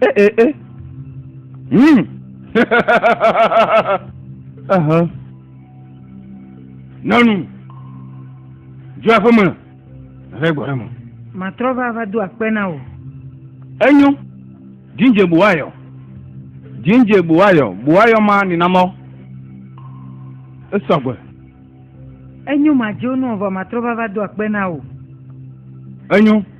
Eh, eh, eh. Hmm. uh-huh. Nanu. Dzɔ aƒe me. Ave gbɔ ɖe me. Matrɔ va va do akpe na wò. Enyo. Jinje buwayɔ. Jinje buwayɔ. Buwayɔ ma ninamɔ. Esɔgbe. Enyo ma dzo nù vɔ matrɔ va va do akpe na wò. Enyo.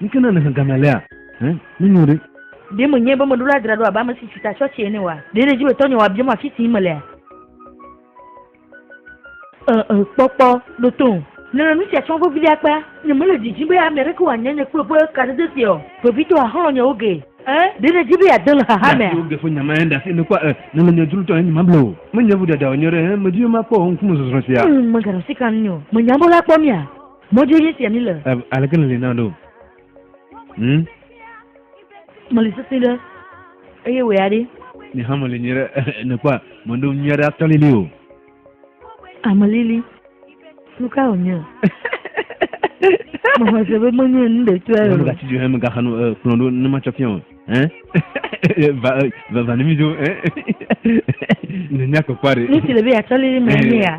Nuke na nèhe game alea? Ẽ, nunyo ɖe. Ɖe menyae be meɖo la dzra ɖo abe ame si tsi ta tsɔtsɛ ene oa? Ɖe nèdi be tɔnye wòabiam afi si yim melea? Ẽ, ẽ, kpɔ, kpɔ, ɖo tom. Nèle nu sia tsɔm vevie akpa. Nyemele didim be ame aɖeke wòanya nye kple ƒe kadede sia o. Vevitɔ àxlɔ̃ nye oge. Ẽ, ɖe nèdi be yeade le xaxa mea? Nya siwo ge ƒe nya mahe ɖe asi nèkpɔa? Ẽ, nèle nye dzrotɔ eye nyemable o. Menye vodada wònye ɖe. Ẽ, medi be makpɔ wò ŋkumezɔzrɔ̃ sia. Ẽ, meganɔ si kam nyɔ. Menya be woakpɔ mía. Mɔdzi ye sia míle. Ɛv, aleke nèli na ɖo? Hm? Meli sesẽ ɖe, eye wòe aɖe. Nye hã meli nyuie ɖe, nèkpɔa? Meɖo nyui aɖe atɔ lili o. Ame lili, nu kae wònye? Mexɔ se be menye nu ɖetɔe o. Megatsi dzo he megaxa nu eh, kplɔ̃ ɖo ne matsɔ fia o. Ɛn? Va, eh, va, va ne mídzo, ɛn? Ne míakpɔkpɔ aɖe. Nu si le be yeatsɔ lili mee nye ya.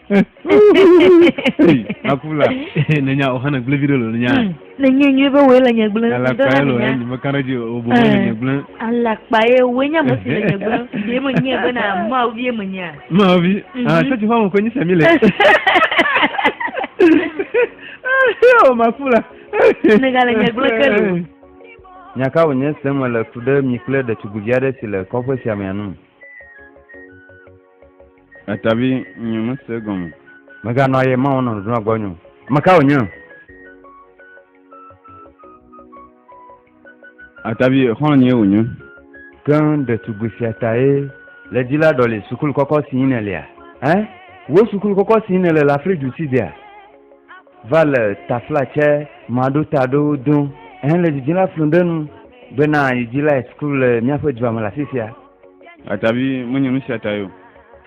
akula nenya o hana gble video lo nenya hmm. ne nye nye be wo le nye gble ala kpa ye lo ye nye meka ɖe dzi o bo le nye gble ala kpa ye wo nya mo si le nye gble ye mo nye be na ma o vie mo nya ma o vi mhm. ah sɛ ti fa mo ko nyi sɛ mi le o makula ne ga le nye gble ke lo nyaka wo nye sɛ mo le tu ɖe mi kple ɖetugbuvi aɖe si le kɔƒe sia me anu Etavi nyo mese gɔme. Meganɔ aye mawo nɔ nudunɔ gbɔ nyo. Meka wonyo. Etavi xɔlɔ nyo wonyo. Keŋ ɖetugbui sia tae le dzi la ɖɔli sukulu kɔkɔ si yi nèlea. Ɛ? Wò sukulu kɔkɔ si yi nèle le afli du si dea? Va le tafla tsɛ maɖo ta ɖo do. Ɛ le dzidzila flu ɖe nu bena yi dzi lae sukulu le míaƒe dua me le afisia. Atavi menye nu sia tae o.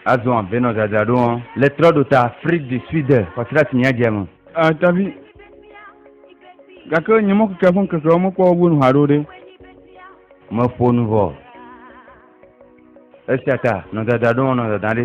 Azɔ vɛ nɔ dzadzraɖo ŋɔ le trɔ ɖo ta Afrique du Sud xɔsrati nya dze me. Atavi, gake nye mɔ keke ƒe ŋkekewo mekpɔ wo gbɔ nu haɖe o ɖe? Meƒo nu vɔ. Esia ta nɔ dzadzraɖo ŋɔ nɔ dada ɖe.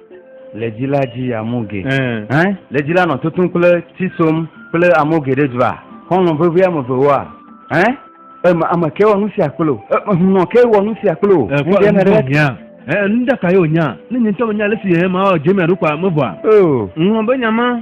Le dzi la dzi amu ge. Hẽ? Le dzi la nɔ tutum kple tsi som kple amu geɖe dzva. Xɔlɔ̃ vevi ame eve woa? Hẽ? Eme ame ke wɔ nu sia kple o. Eme hunɔ ke wɔ nu sia kple o. Ŋdɛ eh, ne ɖe. Nya. Eh, nu ɖeka ye wònya. Ne nye ŋutɔ menya ale si eh, mawɔ dze mia ɖo kɔa, mevɔa. Oh. Ŋlɔ be nya ma.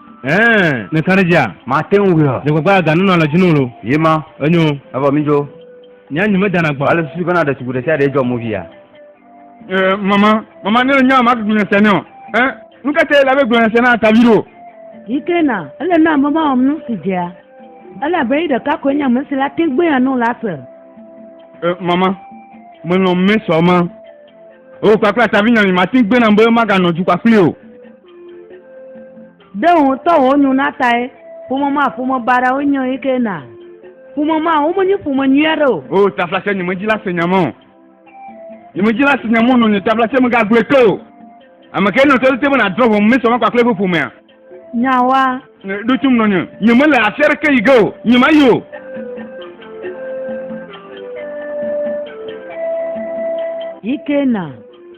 Ɛɛ, ne kan ɖe dzia? Mate ŋu wuiɔ. Nye gbagba ga nunɔ le dzi nolo. Ye ma. Enyo. Evɔ mi jo. Nya nyi me dana gbɔ. Ale susu bena ɖe tugu ɖe sia ɖe jɔ mo via. Ɛɛ, mama, mama ne le nya ma gblɔ sia ne o. Ɛ, nu ka te la be gblɔ sia na atavi ɖo. Yi ke na, ele na mama wɔm nu si dzea. Ele abe yi ɖeka koe nye ame si la te gbe ya nu la se. Ɛ, mama, me lɔn me sɔ ma. O kpakple atavi nya mi mate gbe nam be maga nɔ dukɔ kpli o. Ɖe wò ŋutɔ wò nyo na tae ƒome ma ƒome baɖa wo nyo yi ke na. Ƒome ma wo menye ƒome nyuia ɖe o. O tafla se nyeme dzi la se nyame o. Nyeme dzi la se nyame o nɔ nye tafla se me ga gblɔe ke o. Ame ke nɔ tete be na drɔ ƒome me sɔ ma kpakple eƒe ƒomea. Nyawa. Ɖo tum nɔ nye. Nyeme le afi aɖeke yi ge o. Nyema yi o. Yi ke na.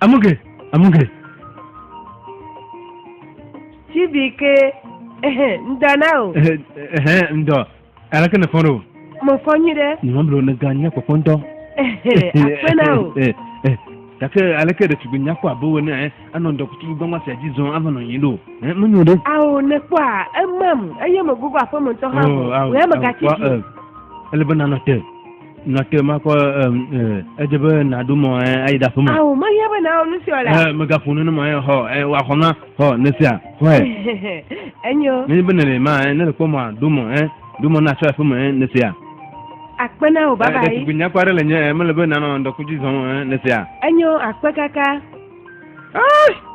Amuge, amuge. Tibi ke, ehe, ŋdɔ na o. Ehe, ehe, ŋdɔ. Aleke ne fɔn ɖo? Mo fɔn nyi ɖe. Nyɔn blo ne gan nya kpɔkpɔ ŋdɔ. Ehe, akpe na o. Eh, eh, gake aleke ɖe tugbe nya kpɔ abe wo ne, eh, anɔ ŋdɔ kutu gbangba sia dzi zɔn ava nɔ yin ɖo. Eh, mo nyo ɖe. Ao, ne kpɔ a, emam, eye mo gogo aƒe me ŋutɔ hã. Oh, ao, ao, kpɔ, eh, ele be nanɔ te. nate makɔ edze be naɖo mɔ ayi ɖaƒe me. awo mehiã be nawɔ nu sia la. ɛɛ megaƒo nu ne ma yɛ xɔ ɛɛ waxɔ na xɔ ne sia xɔɛ. enyo. ne be nele ma ɛ ne le kpɔ mɔ ɖo mɔ ɛ ɖo mɔ na aƒe me ɛ ne sia. akpe na o baba yi. ɖetugbi nyakpɔ aɖe le nye ɛ mele be nanɔ ŋdɔkudzi zɔn ɛ ne sia. enyo akpe kaka. Ah!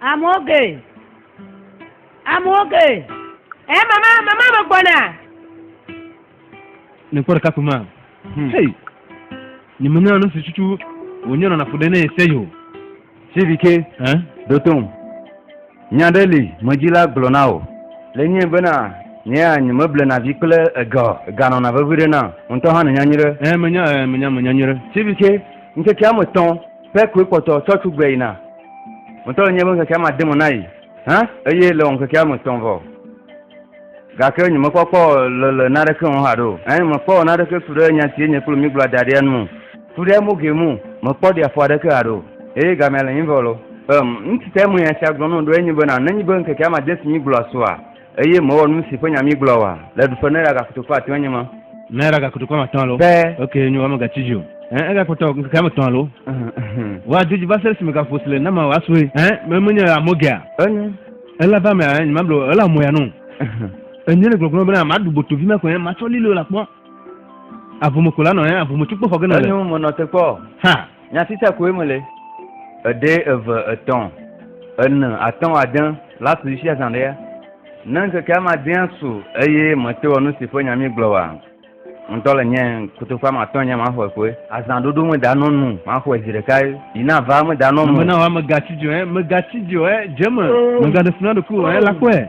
Amewo ge. Amewo ge. Ɛ eh, mama, mama me gbɔna. Ne kpɔ ɖeka kuma. Hmm. Hey. Ni me nyɔna nusi tutu wònyɔ nɔna ƒo ɖe ne ese yo. Sivike. Ɛ. Dotom. Nya ɖe li medzila gblɔ na wò. Le nyie bena nyea nye meblena vi kple ega ega nɔna vevi ɖe na ŋutɔ hã nenya nyuie ɖe. Ɛ menya ɛ menya menya nyuie ɖe. Sivike ŋkeke ame tɔn. Ƒe koe kpɔtɔ tsɔ tso gbe yina. Ŋutɔ nye be ŋkekea made mo na yi. Hã? Eye le ŋkekea me tɔn vɔ. Gake nyemekpɔ kpɔ le le naɖeke ŋu haɖo. Ɛn, mekpɔ naɖeke tu ɖe nya si enye kple mi gblɔa da ɖea nu. Tu ɖe mo ge mu, mekpɔ ɖi afɔ aɖeke haɖo. Eye gamea le nyivɔ lo. Ɛm, nusi tae menya esia gblɔ na wò ɖoe nye bena, nenye be ŋkekea made si mi gblɔa soa, Eye mewɔ nu si ƒe nya mígblɔ wa le ɖuƒe ne ɖa gakoto ƒe atɔ̃e nye ma. Ne ɖa gakoto ƒe atɔ̃ alo. Be. Ok, nyo, wa megatsi dzi o. Ẽ, egakpɔtɔ ŋkeke ame etɔ̃ alo. Wa do dzi va se ɖe esime gaƒo si le nama wa sue. Ẽ, me menye amɔgea. Enyo. Ela va me a, nyemablo o, ela mɔya no. Enye le gbɔgblɔ bena maɖu boto vi ma ko ẽ, matsɔ lilo la kpɔ. Avome ko la nɔ ẽ, avome tso kpɔ xɔ gena le. Enyo, menɔ te kpɔ. Ha. Nya sitsa koe me le. Eɖe eve etɔn ene atɔn ade la su isi azã ɖea? Ne ŋkeke ama adea su eye mete wɔ nu si ƒe nya mi gblɔ wa, ŋutɔ le nye kotoku ama atɔn nye ma xɔe koe. Azã ɖoɖo me da nɔ nu, ma xɔe zi ɖeka yi na va me da nɔ me. Mena wa me ga tsi dzɔɛ, me ga tsi dzɔɛ, dze me, me ga ɖe funa ɖoku ɔɛ la kɔɛ.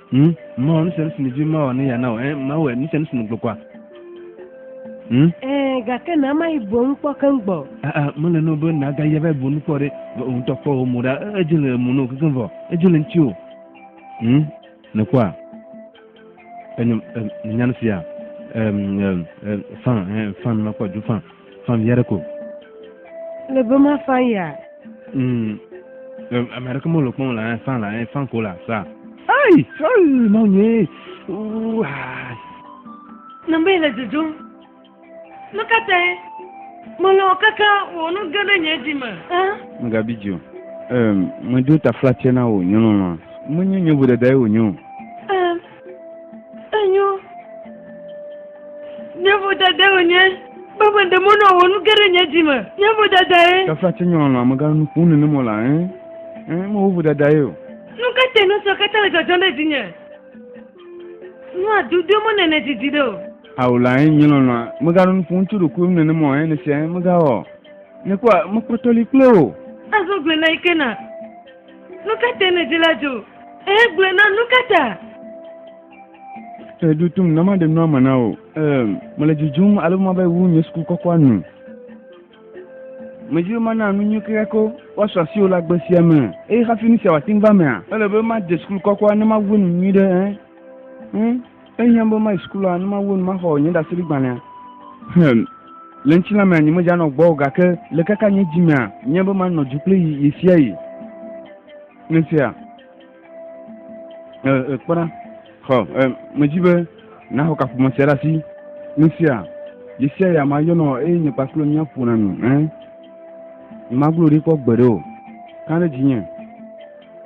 Hmm? Mawɔ nu sia nu si nèdi mawɔ ne yeana wɔ. Eh, mawɔ nu sia nu si nègblɔ kpɔa. Hmm? Eh, gake na mayi bo nu kpɔ keŋ gbɔ. Ah, ah, mele no be nagayi ava bo nu kpɔ ɖe. Ŋutɔ kpɔ wò mo ɖa. Edze le mo no kekeŋ vɔ. Edze le ŋuti o. Hmm? Nèkpɔa? Enyɔ, eh, eh, nènya nu sia. Eh, eh, eh, fan, eh, fan, makpɔ du fan. Fan ya ɖe ko. Le be ma fan ya. Mm. Ame aɖeke mele kpɔm la, fan la, fan ko la, sa. Ai, ai, ma nye. Ooh. Nambe le dzodzom. Nu ka tae? Mele o kaka wò nu ge ɖe nye dzi me. Megabi dzi o. Meɖo taflatse na wò nyɔnɔnɔa. Menye nye vodadae wònye o. Enyo. Nye vodada wònye. Baba de mɔ nɔ wò nu ge ɖe nye dzi me. Nye vodada ye. Tafla tse nyɔ nɔ amegã nu ƒom nenem mɔ la, ẽ, ẽ, me wo vodada ye o. Nu ka te nu sɔ katã le dzɔdzɔm ɖe dzinye? Nu a du do mɔ ne ne didi ɖe o. Ao la ẽ, nye lɔlɔa, megaɖo nu ƒom tso ɖokuiwo nu nenem mɔ ẽ, ne sia ẽ, megawɔ. Ne kpɔ, mekpɔtɔ li kple o. Azɔ gblena yi ke na. Nu ka te nèdi la dzo? Ee, gblɔe nam, nu ka ta? Eɖo tom na maɖe nua me na wò. Ee, mele dzodzom ale be mava wu nye suku kɔkɔa nu. Medi be mana nu nyui kekeako woasɔ asi wò le agbe sia me. Eye hafi nu sia wòate ŋu va emea, ele be made suku kɔkɔa ne mawu enu nyui ɖe. Ẽ? Ẽ? Ehiã be mayi sukulua ne mawu enu maxɔ nye ɖaseɖigbalẽa. Hum, le ŋutilã mea nye medzanɔ gbɔ o, gake le kaka nye dzi mea, nye be manɔ dzu kple yi ɣesiaɣi. Ne sia, e, e, kpɔ ɖa, xɔ, e, medi be naxɔ kaƒomɔ sia ɖe asi. Ne sia, ɣesiaɣi ame ayɔnɔ eye nye kpakple mía ƒona nu, ẽ. Nyemagblɔ ɖi kpɔ gbeɖe o. Kã ɖe dzinye.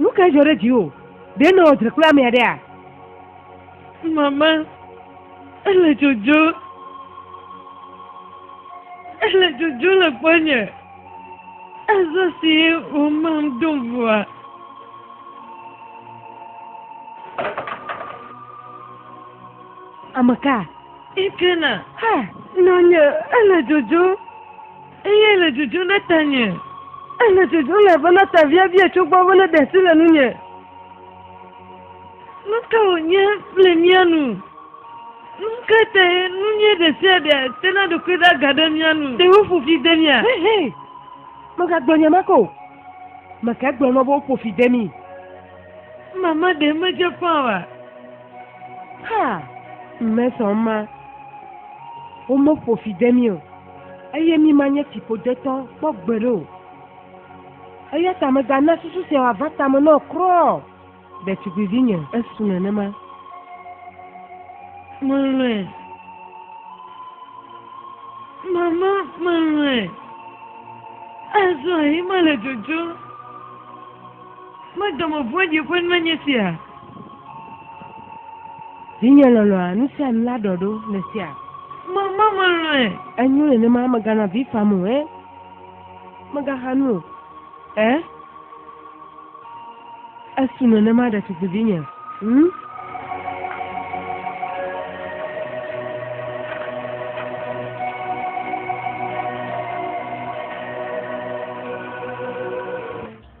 Nu kae dzɔ ɖe dziwò? Ɖe nèwɔ dzre kple ame aɖea? Mama, ele dzodzo. Ele dzodzo le gbɔnye. Azɔ si womam do ŋua. Ame ka? Ekena. Ha, nɔnye, ele dzodzo. Eyae le dzodzom ɖe tanye. Ele dzodzom elabena ta viavia tso gbɔ be neɖe asi le nunye. Nu ka wònye le mía nu? Nu ka tae nunye ɖe sia ɖe tena ɖokui ɖe aga ɖe mía nu? Ɖe woƒo fi de mía? Hɛ, hɛ! Mègagblɔ nya ma ke o. Ame kae gblɔ na wò be woƒo fi de mí? Mama ɖe medze ƒã oa? Haa, mme sɔ ema. Womeƒo fi de mí o. Eye mí manye fiƒodetɔ kpɔ gbeɖe o. Eya ta mègana susu sia wòava tame na wò kura o, ɖetugbivinye. Esu nenema. Melɔ̃e. Mama, melɔ̃e. Azɔ yi mele dzodzom. Medɔmeŋu ƒe ɖiƒe nanye sia. Vinye lɔlɔ̃a, nu sia nu la ɖɔɖo le sia. Mama melɔ̃e. Enyo nenema megana vi fam o, eh? Megaxa nu o, eh? Esu nenema ɖetugbivinye, hm?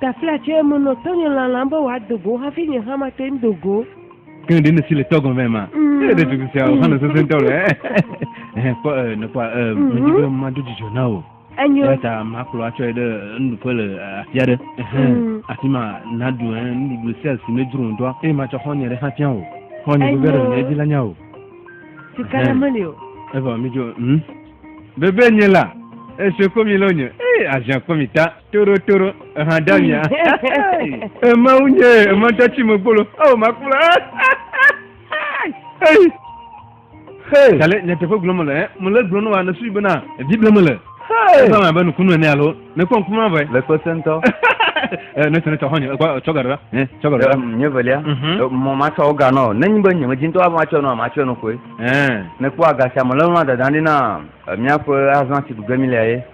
Taflatse me nɔ tɔnye lalam be wòado go hafi nye hã mate ŋu do go. Ke ɖe nèsi le tɔgɔn vɛ ma? Mm. Ee, ɖe tutu sia wòxa nɔ sesẽ ŋutɔ le. Ɛhɛ, kpɔ ee, nèkpɔa ee, mm-hmm. medi be mado dzidzɔ na wò. Enyo. Eya ta makplɔ atsɔe ɖe nuɖuƒe le afi aɖe. Ɛhɛ, mm. afi ma naɖu ɛ nuɖuɖu sia si medzro ŋutɔ, eye matsɔ xɔ̃nye ɖe hã fia wò. Xɔ̃nye veve ɖe nye dzi la nya wò. Sika ɖe meli o. Eva mi dzo, hm? Bebe nye la, esio kpɔ mi lɔ nye, ee, aziã kpɔ mi ta. Toro toro eha da mia. Ema unye ema da tsi me gbolo. Oh ma kula. Hey. Hey. Kale ne teƒe gblɔ me le eh me le gblɔ ne wa ne sui bena ebi ble me le. Hey. Esa ma be nukunu ene alo ne kpɔ nkuma be. Le kpɔ sentɔ. Eh, ne sene tɔ hɔnye ekɔ tsɔ gaɖo la. Eh tsɔ gaɖo la. Nye velia. Mhm. Eh, mɔ ma tsɔ ga nɔ ne nyi be nye me dzi ŋutɔ wa ma tsɔ nɔ ma tsɔ nɔ koe. Eh. Ne kpɔ agasi ame lɛ nɔ dada ne na miaƒe azã si dugbe mi le ye.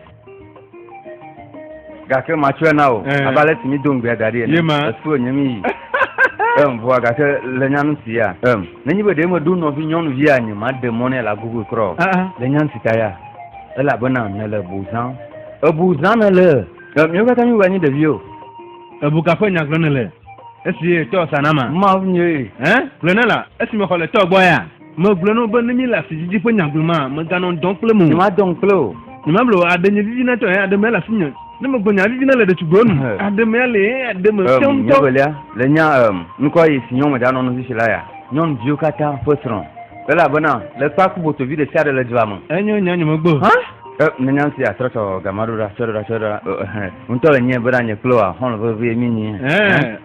gake matsɔe na o eh. abe ale si mi do ŋgbea da ɖi ene esu enye mi yi em vɔa gake le nyanu si ya em nenye be ɖe meɖo nɔvi nyɔnuvi anyi maɖe mɔ nɛ le agogo trɔ ah, ah. le nyanu si ta ya elabena nele bu zã ebu zã nele miwo katã mi wɔ nyi ɖevi o ebu kaƒe nya gblɔ nele esi tɔ sanama mawu nye eh gblɔ ne la esi mexɔ le tɔ gbɔ ya Megblɔe na wò be ne míele asididi ƒe nya gblɔmaa, meganɔ ŋdɔ kplem o. Nyemadɔ ŋu kple wò. Nyemable o, aɖe nye vivina tɔe, aɖe mele asinye. Ne megblɔ nya vivina le ɖetugbiwo nu, aɖe mea le ye, aɖe me fiam ŋutɔ. Nye evelia, le nya ŋkɔ yi si nyɔnu me ɖanɔ nusi si la ya, nyɔnuviwo katã ƒe srɔ̃. Elabena le kpea ku botovi ɖe sia ɖe le dua me. Enyo nya nyemegbe o. Hã? Ne nya sia trɔtrɔ gama ɖo ɖa, tsɔe ɖo ɖa, tsɔe ɖo ɖa, ŋutɔ le nyee bena nye kple wòa, xɔlɔ̃ vevie míenye.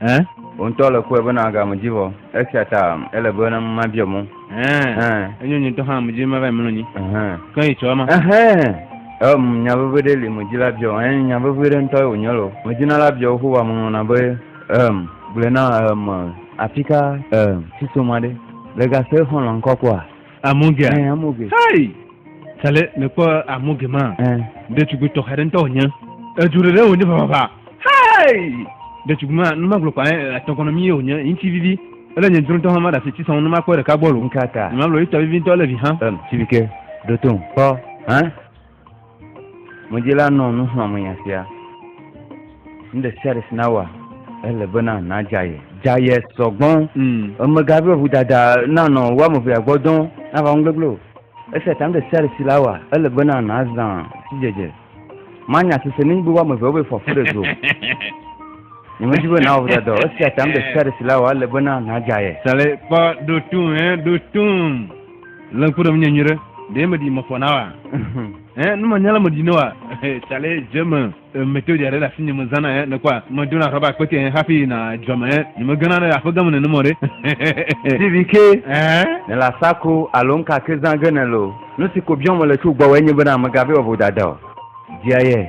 Ẽ? Wò ŋutɔ le kpɔe be nàga ame dzi vɔ, esia ta ele be mabiɔ mɔ. Ẽ, enyo nye ŋutɔ hã ame dzi be mava yi mlɔ anyi. Ke yi tsɔ ema. Ɛhɛ̃! Em, nya vevi ɖe li medi la biɔ o. Ẽ, nya vevi ɖe ŋutɔe wònye loo. Medi na la biɔ Yehowa mɔnɔna be, Em, gblɔe nam, em, afika, em, si so ma ɖe? Le ga se xɔlɔ̃ ŋkɔ kpɔa? Amoge. Ɛɛ amoge. Hei. Sale mekpɔ amoge ma. Ɛɛ. Ɖetugbi tɔxɛ ɖe ŋutɔ wònye. Edu ɖe ɖe wònye vavava. Hei. Ɖetugbi ma nu magblɔ kpa atɔkɔnɔ mi ye wònye ŋuti vivi. Ele nye dzrotɔ hã ma ɖe asi ti sɔn nu makpɔ ɖeka gbɔ lo. Nkata. Nye magblɔ yi tɔ vivi ŋutɔ le vi hã. Ɛm sivike. Ɖoto ŋkpɔ. Hã. Ŋudzila nɔ nu xlɔ̃m nya sia, Nu ɖe sia ɖe si nawɔa, ele bena nadza ye. Dza ye sɔgbɔ. Mm. Emega be ŋudada nanɔ wo ame evea gbɔ dɔn nava ŋu gbegblẽ o. Esia ta nu ɖe sia ɖe si nawɔa, ele bena nazã sidzedze. Manya sese ne nyigbe wo ame evea wobe fɔfu ɖe zo. Nyemedi be nawɔ ŋudada o. Esia ta nu ɖe sia ɖe si nawɔa, ele bena nadza ye. Sale kpɔ ɖotum, eh, ɖotum. Le ŋku ɖem nye nyuie ɖe. Ɖe me di me fɔ na wa. Eh, ne me nyala me di ne wa. Chale je me mete dia ɖe la sinye me zana eh ne kwa. Me dona rɔba kpete eh hafi na dzɔ me eh. Nye me gana ɖe aƒe game ne ne mɔ ɖe. Stevie ke. Eh. Ne la sakro alo nka ke zã ge ne lo. Nu si ko biɔm le tso gbɔ wɔ enye be na me gabe wa vodada o. Dia ye.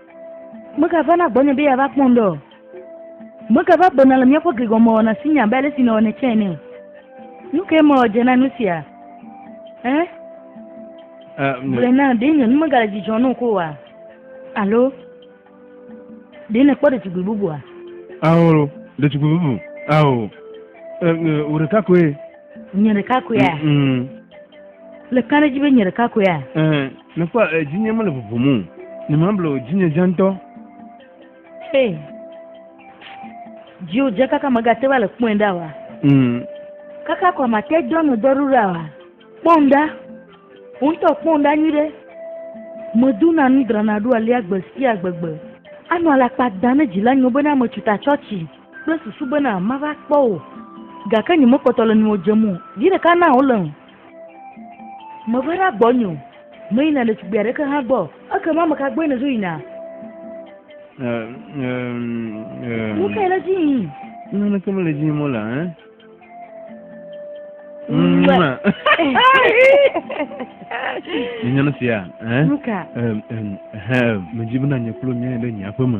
Meka vana gbɔnye be yeava kpɔm ɖe o. Meka va gbɔna le míaƒe gligɔmewɔna si nye abe ale si nèwɔnɛ tsɛ ene o. Nu kae mewɔ dze na nu sia? Ẽ? Gblɔe nam, ɖe nye nu megale dzidzɔ na wò ko oa? Alo ɖe nèkpɔ ɖetugbui bubua? Ao, ɖetugbui bubu. Ao, wò ɖeka koe. Nye ɖeka koea? Le kã ɖe edzi be nye ɖeka koea? Mekpɔ eh, dzinye mele ʋuʋum o. Ne mablo dzinye dze ŋutɔ. Hey. Dziwo dze kaka megate va le kpɔe ɖa wa. Mm. Kaka kɔ mate dɔ me dɔ ɖuɖa wa. Kpɔm ɖa. Ŋutɔ kpɔm ɖa nyuie ɖe. Medu na nu drana ɖo alia gbe sia gbegbe. Anɔ alakpa da ne dzila nyo bena metsu ta tsɔtsi kple susu bena mava kpɔ o. Gake nyemekpɔtɔ le nyo dzem o. Vi ɖeka na wole ŋu. Meva ɖe agbɔ nyo, meyina ɖetugbui aɖeke hã gbɔ, ekema ame ka gbɔe nèdzo yina? Nu kae le edzi yim? Naneke mele edzi yim o la, ẽ? Nyɔnu sia, ẽ? Nu ka? Medzi bena nye kple wò míayi ɖe nye aƒeme.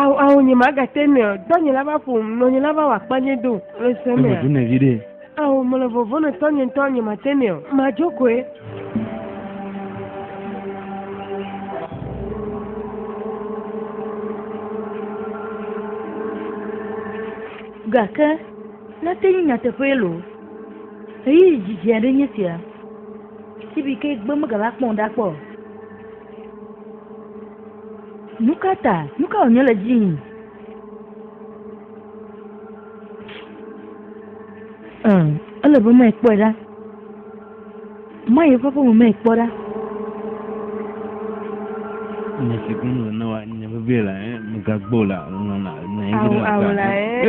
Awo awo nye ma gate ne o dɔ nye lava ƒom nɔ nye lava wa kpa nye do le se me. Evo ne vi ɖe. Awo mo le vovo ne tɔ nye ŋutɔ nye ma te ne o ma dzo koe. Gake nate nye nyateƒee lo. Eyi dzidzi aɖe nye sia. Sibike gbe megava kpɔm ɖa kpɔ. Nu ka ta? Nu ka wònye le edzi yim? Ee, ele be mae kpɔe ɖa. Mae eƒe aƒeme mae kpɔ ɖa. Nya si gblɔm le na wa nya vevie la, eh, mègagbɔ la, nɔ na, nɔ anyi Awu, ɖe awu la, eh.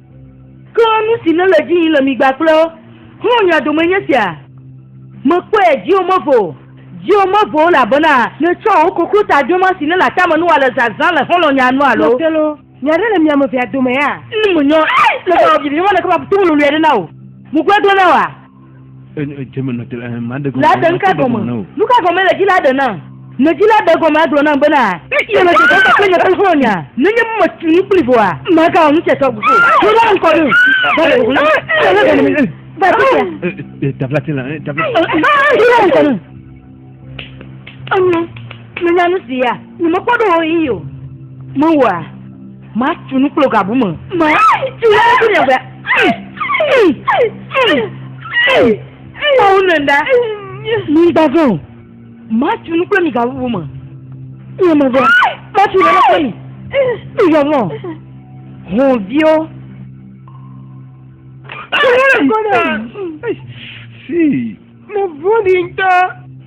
Ke nu si nele edzi yim le mi gbakple xlɔ̃nye dome nye sia, Mekpɔe dziwò mevo o, dziwò mevo o, elabena nètsɔ wò koklo ta dema si nele atame nu ale zazã le xlɔ̃nyea nu alo? Ke loo, nya aɖe le mia ame evea domea? Ne menyɔ le gaxɔ viviwo me ɖeke ma, ƒotovo lolo aɖe na wò. Ŋugbedodoa? Laden ka gɔme? Nu ka gɔme le dzi Laden na? Ne dzi Laden gɔme agblɔ nam bena yele dzedzem kple nye xexlẽme mea, nenye be metu nu kpli vɔ oa, magawɔ nu sia tɔgbi o. Ɖo la ŋkɔ ɖo. Va afi sia. Ɖo la ŋkɔ ɖo. Enyo, menya nu si ya. Nyemekpɔ ɖo ɣeyiɣi o. Mewɔa. Ma tu nu kple gabu me. Ma tu nu kple nye gbe. Kpɔwo ne ɖa. Mi gbazɔ. Ma tu nu kple mi gabu me. Nye me gbɔ. Ma tu nu kple mi. Mi gbazɔ. Hɔn viwo. Kpɔwo ne. Si. Mo vɔ̃ɖi ŋutɔ.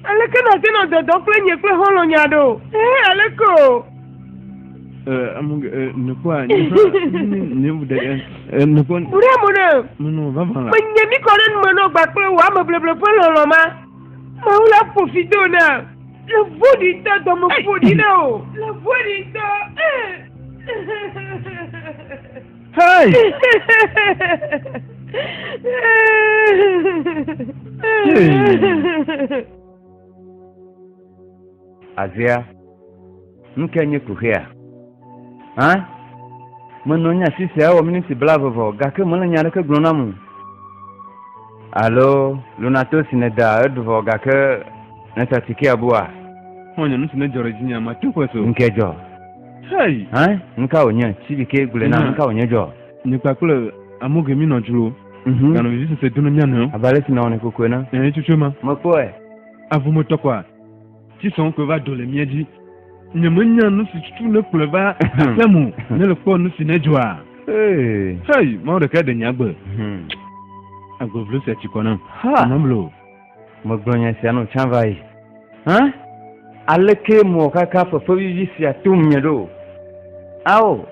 Aleke nàte nɔ dɔdɔm kple nye kple xɔlɔ̃nye aɖe o? Ee, aleke o? Buɖe mo ne menye mi kɔ ɖe nume nɔ gba kple wò ame bleble ƒe lɔlɔ̃ ma. Mawu la ƒo fi do na. Le vɔ̃ɖi ŋutɔ dɔme ƒo ɖi na o. Le vɔ̃ɖi ŋutɔ. Hey! Azea, nu kae nye kuxia? Hã? Menɔ nya si sea wɔ miniti blaeve vɔ, gake mele nya aɖeke gblɔ nam o. Alo, lunato si nèda eɖu vɔ, gake nèsa tikea bua? Xɔ̃nye, nu si nedzɔ ɖe dzinye, mate ŋu akpɔe se o. Ŋkedzɔ. Hey! Hein, nu ka wònye? Tsibike gblɔe nam, nu ka wònye dzɔ? Nye kpakple Amoge míenɔ dzro, Mhm. ganɔ vevisese do na mía nɔewo. Abe ale si nèwɔnɛ koko ene. Ɛ̃, etsotsoe ma. Mekpɔe. Avu metɔ kɔa ti sɔŋ koe va do le mía dzi. Nyemenya nu si tutu nekplɔe va aƒea me o. Ne le kpɔ nu si nedzɔa. Hey! Hey! Mawu ɖekae ɖe nye agbe. Mhm. Agbe vlo sia tsi kɔ nam. Ha! Nyememlɔ o. Megblɔ nya sia nɔ tsã va yi. Hã? Alekee mɔkaka fefevivi sia tom nye ɖo? Ao,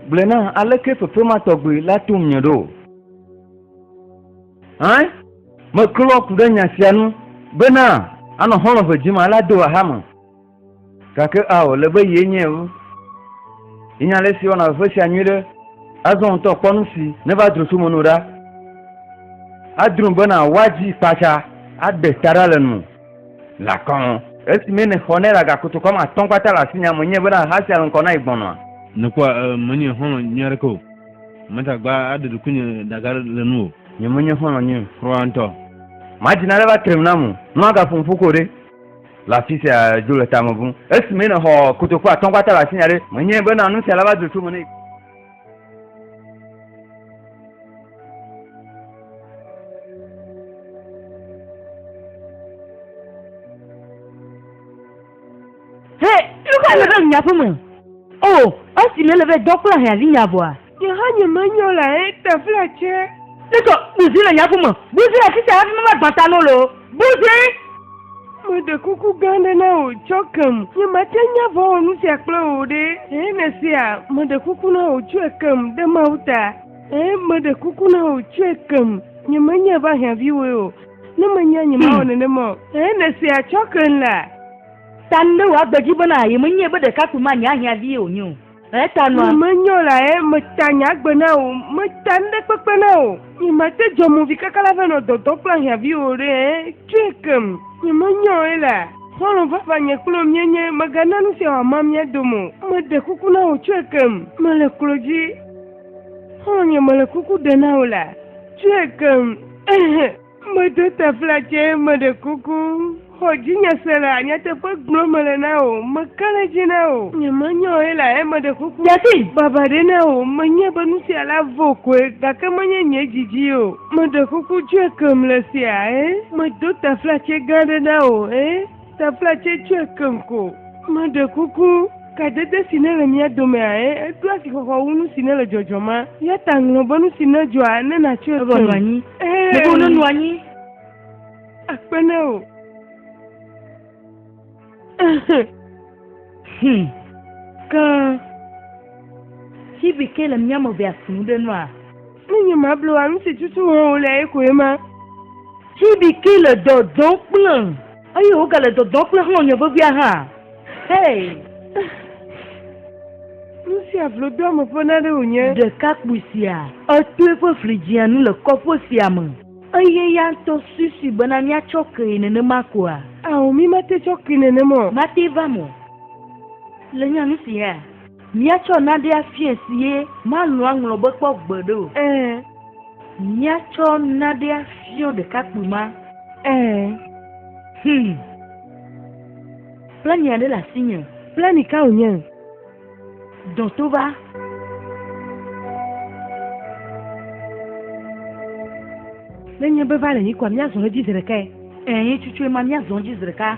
gblɔe nam, alekee fefe ma tɔgbi la tom nye ɖo? Hã? Meklɔ ku ɖe nya sia ŋu bena anɔ xɔlɔ̃ ʋe dzim alea do axame. Gake ao, le be yee nye o. Yenya ale si wɔna veve sia nyuiɖe. Azɔ ŋutɔ kpɔ nu si neva dro tso meno ɖa. Adro bena woadzi kpatsa aɖe ta ɖa le nu lakɔn. Esimee nèxɔ ne la gakotokɔ ame atɔ̃ kpata le asinye, ame enye bena ha sia le ŋkɔ na yi gbɔnɔa? Nèkpɔa menye xɔlɔ̃ nyui aɖeke o. Mate ŋu agba aɖe ɖokuinye ɖaga le nu o. Nye menye xɔlɔ̃ nyui kura ŋutɔ. Madina aɖe va tre nu nam o. Ne woagaƒo nuƒo ko ɖe? Le afi sia dzo le tame ʋum. Esi mee nèxɔ kotoku atɔ̃ gbata le asinye ɖe, menyae bena nu sia nava dzro tso me nɛ. Hɛ, nu kae le ɖe nye aƒe me? O, esi nèle be dɔ kple ahiãvi nya vɔa, Nye hã nye me nyɔ la he ta fla tse. Ne tɔ buzi le nyaku me. Buzi le sisa hafi me va gbã ta no lo. Buzi. Me ɖe kuku gã ɖe na wò tsɔ kem. Nye ma tse nya vɔ wɔ nu sia kple wò ɖe. He ne sea, me ɖe kuku na wò tsɔe kem ɖe Mawu ta. He me ɖe kuku na wò tsɔe kem. Nye me nya va hia vi woe o. Ne me nya nye ma wɔ nenema o. He ne sea tsɔ kem la. Tan be wò agbe dzi bena ye me nyae be ɖekakpui ma nye ahia vi ye wò nye o. Ŋu menyɔ la ye meta nye agbe na wò, meta nu ɖe kpekpe na wò. Nye mate dzɔ movi kaka la va nɔ dɔdɔ kple ahiãvi o ɖe, tsɔe kem. Nye menyɔ ye la, xɔlɔ̃ vavã nye kple wò míenye, mègana nu sia wòama mía dome o. Meɖe kuku na wò, tsɔe kem, mele klo dzi. Xɔlɔ̃nye mele kuku ɖe na wò la, tsɔe kem. Medo tafla tsɛ, meɖe kuku. Xɔ dzinye se la, nyateƒe gblɔm mele na wò, meka ɖe edzi na wò. Nyemenya wò ye la, eya meɖe kuku. David. Baba ɖe na wò, menyae be nu sia la vɔ koe, gake menye nye didi o. Meɖe kuku, dzɔe kem le esia, ẽ? Medo tafla tsɛ gã aɖe na wò, ẽ? Tefla tsɛ tsoe keŋ ko. Meɖe kuku, kadede si nele mía domea, eɖo asixɔxɔ wu nu si nele dzɔdzɔm ma. Eya ta ŋlɔ be nu si nedzɔa, ne nàtsɔe keŋ. Eɖoa nu anyi. Ele be wònonɔ anyi. Akpe na wò. Hum. Ke, ci bi ke le mía me vea ku nu ɖe nua? Nu nye mablu anu si tutu wɔm wòle ye koe ma. Judiki le dɔdɔ kplem eye wògale dɔdɔ kple xlɔ̃nye vevia hã. Hei! Nu sia vlodoame ƒe naɖe wònye. Ɖekakpui sia, eto eƒe fli dzia nu le kɔƒe sia me. Eye ya ŋutɔ suisui bena míatsɔ kee nenema koa? Ao, mí mate tsɔ kee nenema o. Mate va me o. Le nya nu si hea? Míatsɔ naɖe afiae si ye malɔ̃ aŋlɔ be kpɔ gbeɖe o. Ẽ, míatsɔ naɖe afiɔ ɖekakpui ma. Ẽ, hum. Plani aɖe le asinye. Plani ka wònye? Dɔ to va. Nenye be va le nyi koa, míazɔ edzi zeɖekae. Ẽ, nye tsutsoe ma, míazɔ edzi zeɖeka.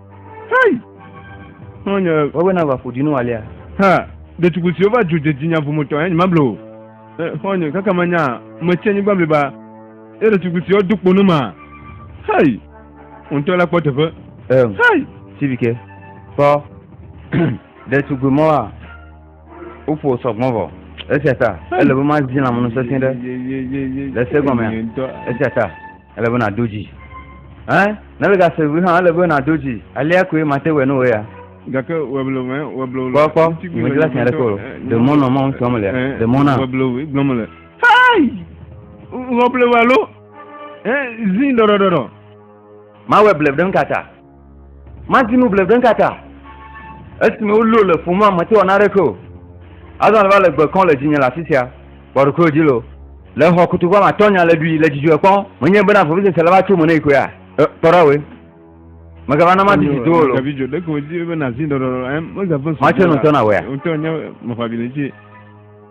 Hei! Nɔnyɔ. Wɔwɛ na va ƒo dinu alia. Ha, ɖetugbui siwo va dzo dze dzinya ƒometɔ enyi mable o. Xɔnye, kaka manya, metsi anyigba bliba. Ye ɖetugbui siwo do kpo nu ma. Hei! Wò ŋutɔ la kpɔ teƒe. Eŋ. Hei! Sivike, kpɔ. Ɖetugbui mɔa, woƒo sɔgbɔn vɔ. Esia ta, ele be mazi lãmenu sesẽ ɖe le se gɔmea. Esia ta. Ele be nàdo dzi. Ɛ? Ne le gase ŋu hã ele be nàdo dzi. Alea koe mate wɔ nu wɔ ya. Gake weblo mɛ weblo. Kpɔ kpɔ, medi la sia ɖe kpɔ. Demɔ nɔ mɔ ŋutɔ me le. Demɔ na. Weblo gblɔ me le. Hai! Weblo wa lo. Ɛ zin dɔdɔdɔdɔ. Mawɔ bleb ɖe ŋkata. Mati nu bleble ka ta? Esime wolio le ƒo mea, mete wɔ naneke o. Azɔ va le gbe kɔm le dzinye le afi sia, kpɔ ɖokuiwò dzi loo. Le xɔ kutu kpɔ matɔ nya le ɖui le dzidzɔe kpɔm. Menye bena vevesese la va tso me ne yi koea? Kpɔ ɖa we. Megava na mati si do wò loo. Mati nutɔ na wea?